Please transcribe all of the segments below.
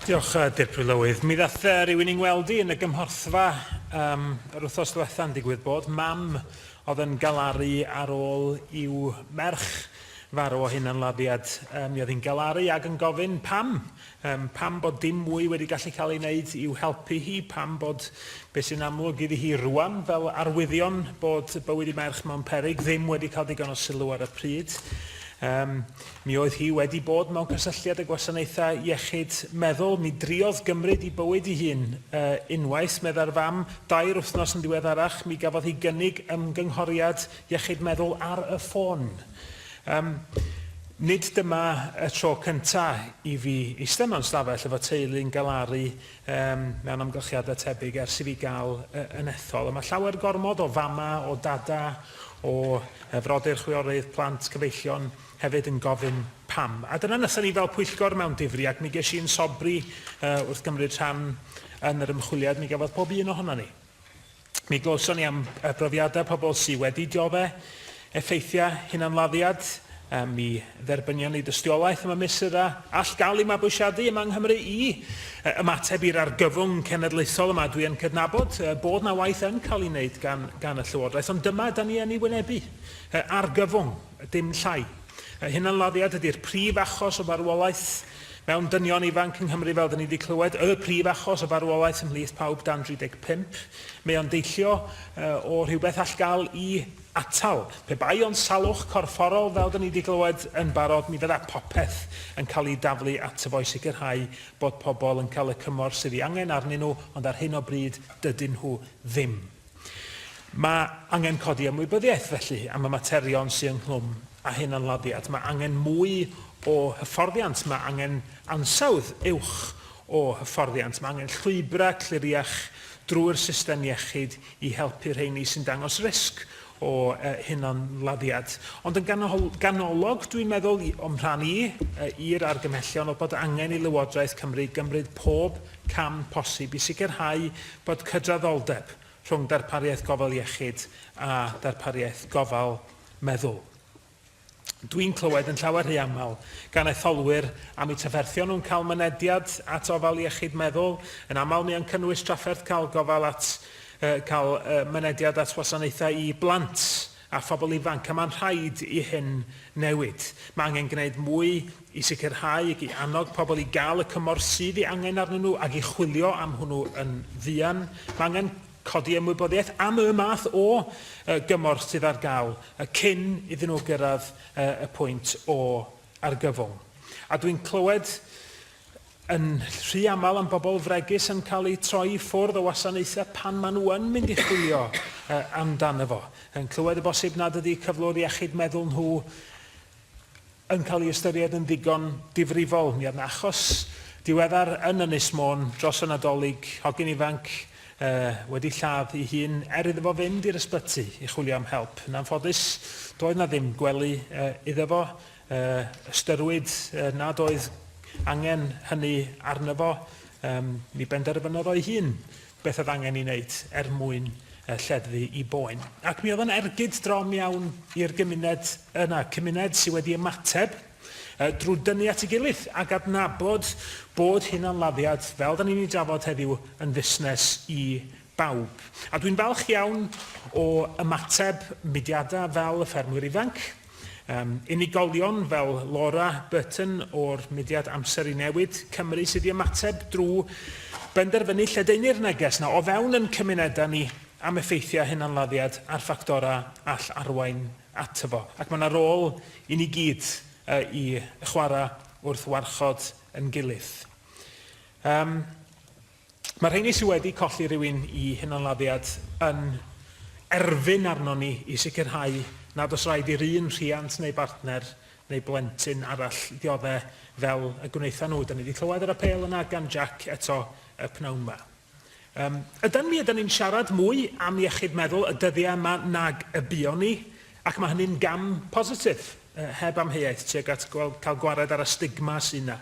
Diolch, uh, Dirprwy Lywydd. Mi ddath uh, rhywun i'n weld i yn y gymhorthfa um, yr wythnos diwetha'n digwydd bod. Mam oedd yn galaru ar ôl i'w merch farw o hyn yn lafiad. Um, mi oedd hi'n galaru ag yn gofyn pam. Um, pam bod dim mwy wedi gallu cael ei wneud i'w helpu hi. Pam bod beth sy'n amlwg iddi hi rwan fel arwyddion bod bywyd i merch mewn perig ddim wedi cael digon o sylw ar y pryd. Um, Mi oedd hi wedi bod mewn cysylltiad â gwasanaethau iechyd meddwl. Mi driodd gymryd i bywyd i hun. Yy, unwaith, meddai'r fam, dair wythnos yn ddiweddarach, mi gafodd hi gynnig ymgynghoriad iechyd meddwl ar y ffôn. Yym, nid dyma y tro cynta' i fi eistedd mewn stafell efo teulu yn galaru yym, mewn amgylchiadau tebyg ers i fi gael yy, yn ethol. A mae llawer gormod o fama', o dada', o yy, frodyr chwiorydd, plant, cyfeillion, hefyd yn gofyn pam. A dyna nesa ni fel pwyllgor mewn difri, ac mi ges i yn sobri uh, wrth gymryd rhan yn yr ymchwiliad, mi gafodd pob un ohono ni. Mi glywson ni am y brofiadau pobl sydd wedi diodde effeithiau hunanladdiad, a mi dderbynion ni dystiolaeth am y mesurau all gael ei mabwysiadu yma yng Nghymru i ymateb i'r argyfwng cenedlaethol yma. Dwi yn cydnabod bod na waith yn cael ei wneud gan, gan y Llywodraeth, ond dyma da ni yn ei wynebu, argyfwng. dim llai. Y hunanladdiad ydy'r prif achos o farwolaeth mewn dynion ifanc yng Nghymru fel 'da ni 'di clywed, y prif achos o farwolaeth ymhlith pawb dan 35. Mae o'n deillio o rhywbeth all gael i atal. Pe bai ond salwch corfforol fel 'da ni 'di glywed yn barod mi fydda popeth yn cael ei daflu ato fo i sicrhau bod pobl yn cael y cymorth sydd ei angen arnyn nhw ond ar hyn o bryd dydyn nhw ddim. Mae angen codi ymwybyddiaeth felly am y materion sydd ynghlwm â hunanladdiad, mae angen mwy o hyfforddiant, mae angen ansawdd uwch o hyfforddiant, mae angen llwybrau cliriach drwy'r system iechyd i helpu rheini sy'n dangos risg o hunanladdiad. Ond yn ganolog, dwi'n meddwl, o'm rhan i, i'r argymhellion oedd bod angen i Lywodraeth Cymru gymryd pob cam posib i sicrhau Bod cydraddoldeb rhwng darpariaeth gofal iechyd a darpariaeth gofal meddwl. Dwi'n clywed yn llawer rhy aml gan etholwyr am eu trafferthion nhw'n cael mynediad at ofal iechyd meddwl, yn aml mae o'n cynnwys trafferth cael gofal at, yy cael yy mynediad at wasanaethau i blant a phobl ifanc, a mae'n rhaid i hyn newid. Mae angen gwneud mwy i sicrhau ac i annog pobl i gael y cymorth sydd ei angen arnyn nhw ac i chwilio am hwnnw yn fuan. Mae angen codi ymwybyddiaeth am y math o gymorth sydd ar gael cyn iddyn nhw gyrraedd y pwynt o argyfwng. A dwi'n clywed yn rhy aml am bobl fregus yn cael eu troi i ffwrdd o wasanaethau pan maen nhw yn mynd i chwilio amdano fo. Yn clywed y bosib nad ydy cyflwr iechyd meddwl nhw yn cael ei ystyried yn ddigon difrifol. Mi oedd yna achos diweddar yn Ynys Môn dros y Nadolig, hogyn ifanc wedi lladd ei hun er iddo fo fynd i'r ysbyty i chwilio am help. Yn anffodus, doedd yna ddim gwely iddo fo y ystyriwyd nad oedd angen hynny arno fo, yym, mi benderfynodd o'i hun beth oedd angen ei wneud er mwyn lleddfu i boen. Ac mi oedd o'n ergyd drom iawn i'r gymuned yna, cymuned sydd wedi ymateb drwy dynnu at ei gilydd ac adnabod bod hunanladdiad, fel da ni'n ei drafod heddiw, yn fusnes i bawb. A dwi'n falch iawn o ymateb mudiadau fel y Ffermwyr Ifanc, Yym, unigolion fel Laura Burton o'r mudiad Amser i Newid Cymru sydd i ymateb drwy benderfynu lledaenu'r neges na o fewn yn cymunedau ni am effeithiau hunanladdiad a'r ffactorau all arwain ato fo. Ac mae yna rôl i ni gyd i chwarae wrth warchod yn gilydd. Yym. Mae rheini sydd wedi colli rhywun i hunanladdiad yn erfyn arnon ni i sicrhau nad oes rhaid i'r un rhiant neu bartner neu blentyn arall ddioddef fel y gwnaethon nhw. Dan ni wedi clywed yr apêl yna gan Jack eto y pnawn ma. Yym, ydan mi ydan ni'n siarad mwy am iechyd meddwl y dyddiau yma nag y buon ni, ac mae hynny'n gam positif. heb amheuaeth, tuag at gweld, cael gwared ar y stigma sy' 'na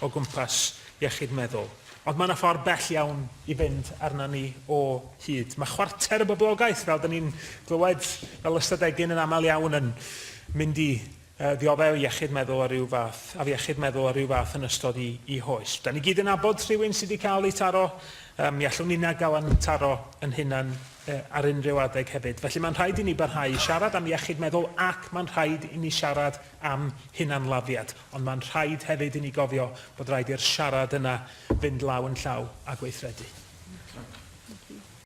o gwmpas iechyd meddwl. Ond mae 'na ffordd bell iawn i fynd arna ni o hyd. Mae chwarter y boblogaeth, fel 'dan ni'n glywed fel ystadegyn yn aml iawn, yn mynd i yy ddioddef iechyd meddwl o ryw fath, afiechyd meddwl o ryw fath yn ystod 'u 'u hoes. 'Dan ni gyd yn nabod rhywun sy' 'di cael eu taro, yy mi allwn ninna gael 'yn taro 'yn hunan. ar unrhyw adeg hefyd. Felly mae'n rhaid i ni barhau i siarad am iechyd meddwl ac mae'n rhaid i ni siarad am hunanladdiad, ond mae'n rhaid hefyd i ni gofio bod rhaid i'r siarad yna fynd law yn llaw â gweithredu.